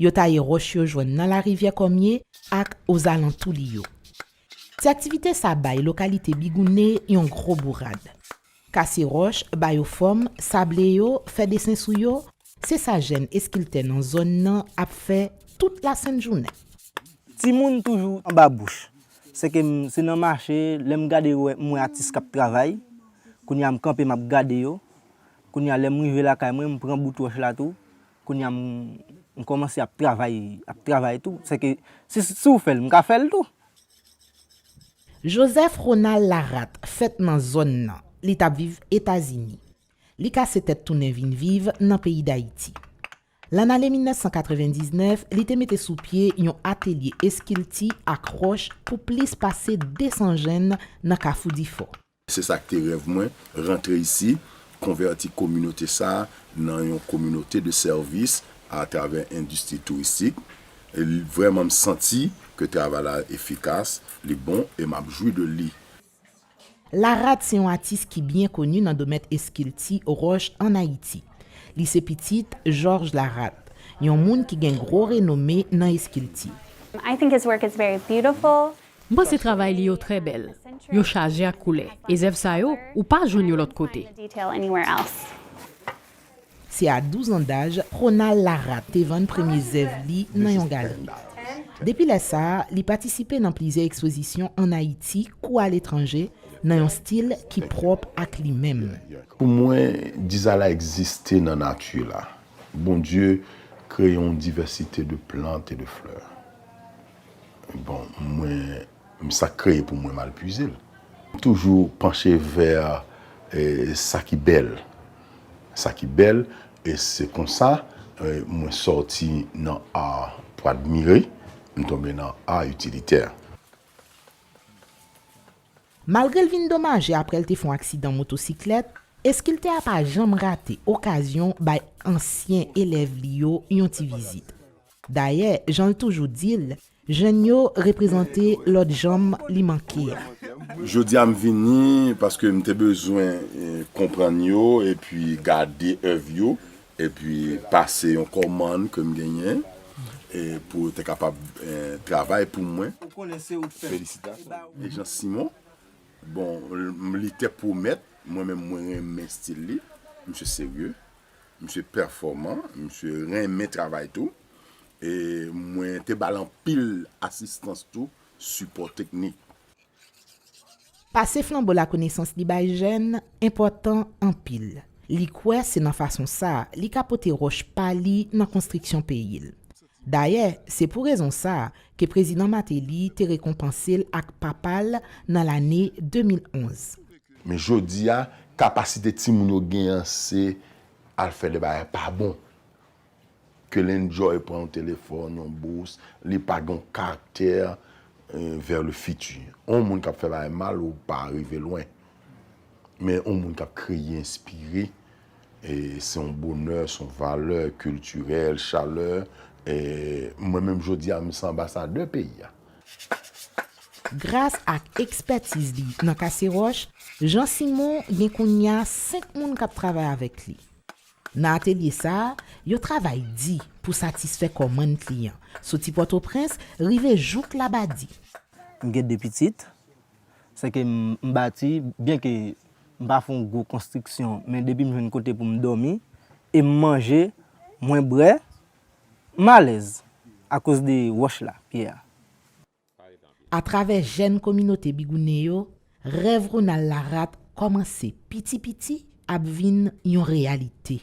Yo taye ròch yo jwenn nan larivyè Kòmye ak ozalantou li yo. Ti aktivite sa bay lokalite Bigoune yon gwo bourad. Kase ròch, ba yo fòm, sable yo, fè desen sou yo, se sa jèn eskiltè nan zòn nan ap fè tout lasent jounen. Timoun toujou anba bouch. Sèke m se nan mache, lè m gade yo m wè atis k ap travay. Kounye a m kanpe m ap gade yo. Kounye a lè m rive lakay mwen m pran bout wòch la tou. Kounya m kòmanse ap travay ap travay tou sèke si w fè l m ka fè l tou. Joseph Ronald Laratte fèt nan zòn nan, li t ap viv Etazini. Li kase tèt tounen vin viv nan peyi Dayiti. Lannale 1999 li te mete sou pye yon atelye eskilti ak ròch pou plis pase 200 jenn nan Kafou Difò. Se sa k te rèv mwen, rantre isi, konvèti kominote sa a nan yon kominote de sèvis atravè endistri touristik. Vrèman m santi ke travay la efikas, li bon e m ap jwi de li. Larad se yon atis ki byen koni nan domèn eskilti wòch ann Ayiti. Li se pitit Jòj Larat, yon moun ki gen gwo renome nan eskilti. I think his work is very beautiful. M panse travay li yo trè bèl. Yo chaje ak koulè. E zèv sa yo, ou pa jwenn yo lòt kote. Se a 12 an daj Ronald Laratte te vann premye zèv li nan yon galeri. Depi lè sa a, li patisipe nan plizyè ekspozisyon ann Ayiti kou aletranje nan yon stil ki pwòp ak li menm. Pou mwen, diza la egziste nan nati la. Bondye kreye yon divèsite de plant e de flè. Bon, mwen, m sa k kreye pou mwen m al pwize l. M toujou panche vè sa ki bèl. Sa ki bèl, e se konsa mwen sòti nan ar pou admire, m tonbe nan ar itilitè. Malgre l vin domaje aprè l te fè yon aksidan motosiklèt, eskiltè a pa janm rate okazyon bay ansyen elèv li yo yon ti vizit. Dayè, jan l toujou di l, jèn yo reprezante lòt janm li manke a. Jodi a m vini paske m te bezwen konprann yo epi gade èv yo epi pase yon kòmann ke m genyen pou yo te kapab travay pou mwen. Felisitasyon Jean Simon. Bon, li te pwomèt, mwen menm mwen renmen stil li. Misye serye. Misye pèfòman, misye renmen travay tou e mwen te ba l anpil asistans tou, sipò teknik. Pase flanbo lakonesans li bay jèn enpòtan anpil. Li kwè se nan fason sa a li ka pote wòch pa li nan konstriksyon peyi l. Dayè, se pou rezon sa a ke Prezidan Mateli te rekonpanse l ak papa l nan lane 2011. Men jodi a, kapasite timoun yo gen an se al fè de bagay pa bon. Ke l enjoy pran yon telefòn, yon bous, li pa gen yon karaktè vè le fiti. Yon moun k ap fè bagay mal ou pa rive lwen. Men yon moun k ap kreye, enspire. E se yon bonè, se yon valè kiltirèl, chalè. E mwen menm jodi a, m se anbasadè peyi a. Gras ak ekspètiz li nan kase wòch, Jean Simon gen kounye a 5 moun k ap travay avèk li. Nan atelye sa a, yo travay di pou satisfè kòmann kliyan, soti Pòtoprens rive jouk Labadi. M gen 2 pitit. Se ke m bati, byen ke m pa fè yon gwo konstriksyon, men depi m jwenn kote pou m dòmi, e m manje, mwen bre, m alèz, akoz de wòch la, pyè a. Atravè jèn kominote Bigoune yo, rèv Ronald Laratte kòmanse piti piti ap vin yon reyalite.